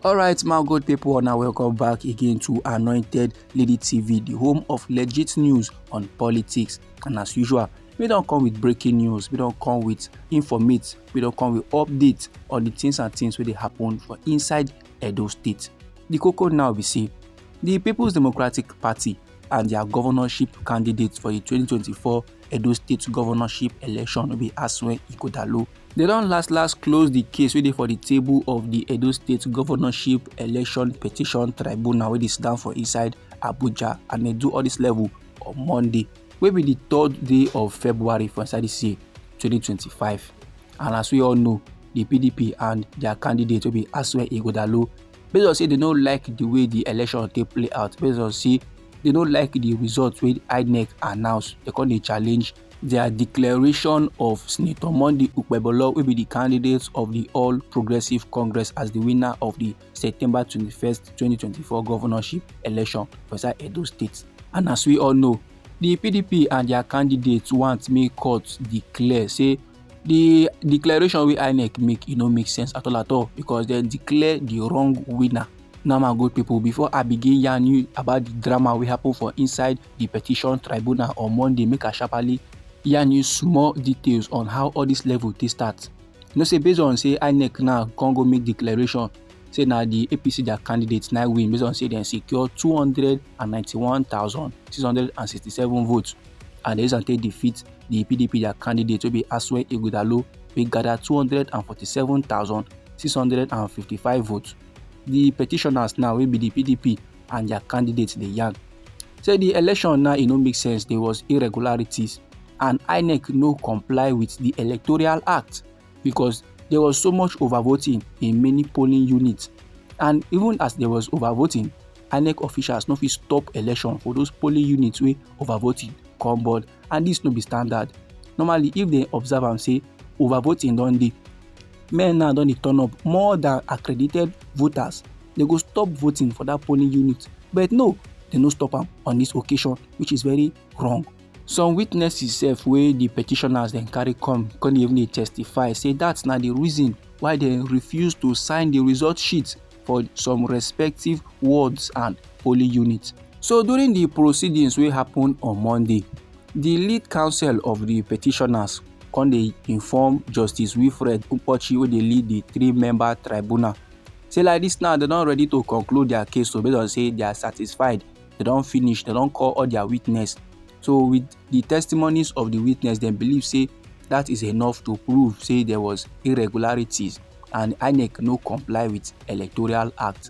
alright my good people now welcome back again to anointed lady tv the home of legit news on politics and as usual we don't come with breaking news we don't come with informate we don't come with updates on the things and things where they happen for inside edo state the cocoa now we see the people's democratic party and their governorship candidates for the 2024 edo state governorship election will be aswen ikodalo They don last last close the case wey dey for the table of the Edo State Governorship Election Petition Tribunal wey dey sit down for inside Abuja and they do all this level on Monday wey be the third day of February for inside this year 2025 and as we all know the PDP and their candidate wey be Asue Igodalo based on say they no like the way the election take play out based on say they no like the result wey INEC announce they come dey challenge dia declaration of senator monday okpebholo wey be di candidate of di all progressives congress as di winner of di september 21st 2024 governorship election for inside edo state and as we all know di pdp and dia candidates want make court declare say di declaration wey inec make e no make sense at all at all because dem declare di wrong winner now my good pipo before i begin yarn you about di drama wey happen for inside the petition tribunal on monday make i sharparly yarn you small details on how all this level take start you know say based on say inec now come go make declaration say na the apc their candidate na win based on say dem secure two hundred and ninety-one thousand six hundred and sixty-seven votes and dem use am take defeat the pdp their candidate wey be asue ighodalo wey gather two hundred and forty-seven thousand six hundred and fifty-five votes the petitioners now wey be the pdp and their candidates dey yarn say the election now e no make sense there was irregularities and inec no comply with the electoral act because there was so much overvoting in many polling units and even as there was overvoting inec officials no fit stop election for those polling units wey overvoting come board and this no be standard normally if they observe am say overvoting don dey men now don dey turn up more than accredited voters they go stop voting for that polling unit but no they no stop am on this occasion which is very wrong some witnesses sef wey the petitioners dem carry come come even dey testify say that's na the reason why they refuse to sign the result sheet for some respective wards and polling units so during the proceedings wey happen on monday di lead counsel of di petitioners come dey inform justice wilfred nkpotchi wey dey lead di three member tribunal say like dis now dem don ready to conclude their case so based on say they are satisfied they don finish they don call all their witness so with the testimonies of the witness dem believe say that is enough to prove say there was irregularities and inec no comply with electoral act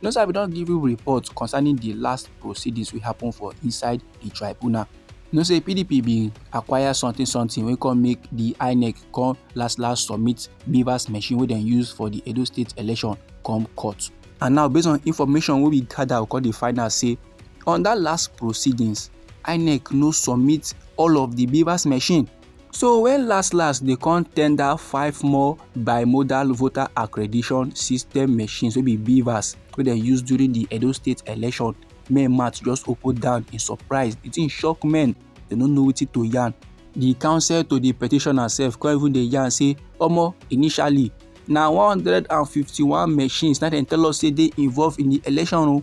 You know, sir, we don't give you reports concerning the last proceedings we happen for inside the tribunal. You know, say PDP be acquire something something we can make the INEC come last last submit Beavers machine we then use for the Edo State election come court. And now, based on information we be gather, we call the final say on that last proceedings, INEC no submit all of the Beavers machine So when LastLast they come tender five more bimodal voter accreditation system machines wey be BVAS wey they use during the Edo State election, men mouth just open down in surprise. The thing shock men, they no know wetin to yarn. The counsel to the petitioner sef come even dey yarn say omo initially na 151 machines na dem tell us say dey involved in the election o.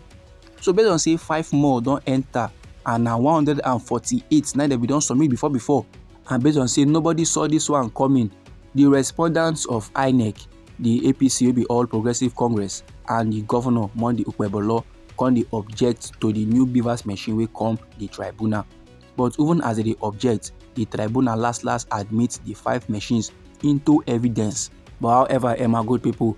So based on say five more don enter and na 148 na dem bin don submit before before and based on say nobody saw this one coming the respondents of inec the apc wey be all progressives congress and the governor monday okpebholo come dey object to the new beavers machine wey come the tribunal but even as they dey object the tribunal last last admit the five machines into evidence but however emma good people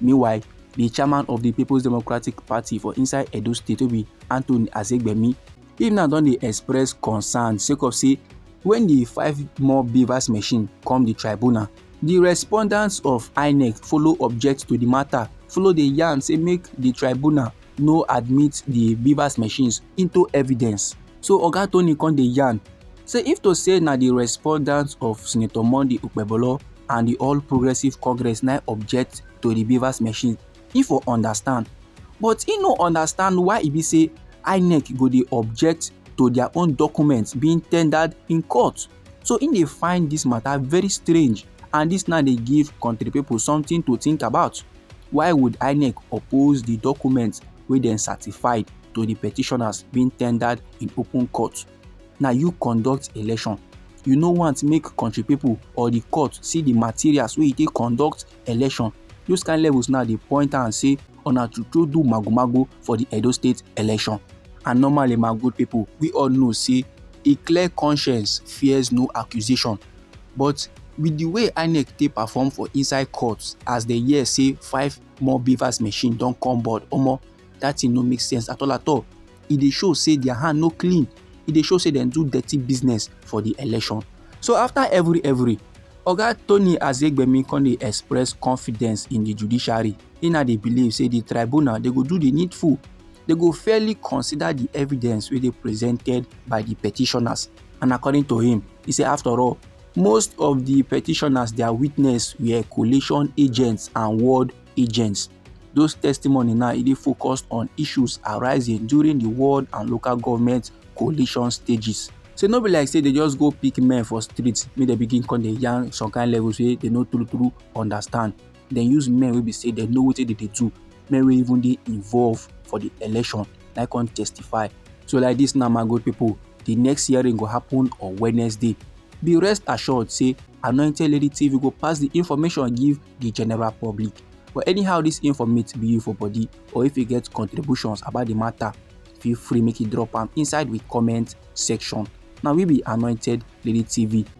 Meanwhile, di chairman of di Peoples Democratic Party for inside Edo State wey be Anthony Azegbemi, him now don dey express concern sake of say when di five more BVAS machine come di tribunal, di respondents of INEC follow object to di matter, follow dey yarn say make di tribunal no admit the beavers machines into evidence so oga tony come dey yarn say if to say na the respondents of senator monday okpebolo and the all progressives congress na object to the beavers machine e for understand but e no understand why e be say inec go dey object to their own documents being tendered in court So im dey find dis matter very strange and dis now dey give country people something to think about. Why would INEC oppose the documents wey dem certified to the petitioners being tendered in open court? Na you conduct election you no want make country people or the court see the materials wey you take conduct election those kind levels now dey point am say una to to do magomago for di edo state election and normally my good pipo we all know say a clear conscience fears no accusation but with di way inec take perform for inside court as dem hear say five more bvas machine don come board omo dat thing no make sense at all at all e dey show say dia hand no clean e dey show say dem do dirty business for di election so afta evri evri oga tony azegbemi come dey express confidence in di judiciary he na dey believe say di tribunal dey go do di needful dey go fairly consider di evidence wey dey presented by di petitioners and according to him he say after all most of di petitioners dia witness were coalition agents and world agents those testimony now e dey focused on issues arising during di world and local government coalition stages say no be like say dey just go pick men for street make dem begin come dey yarn some kind levels wey dey no true true understand dem use men wey be say dem know wetin dem dey do men wey even dey involve for the election na come testify so like this now my good people the next hearing go happen on wednesday be rest assured say anointed lady tv go pass the information give the general public but anyhow this informate be you for body or if you get contributions about the matter feel free make you drop am inside the comment section now we be anointed lady tv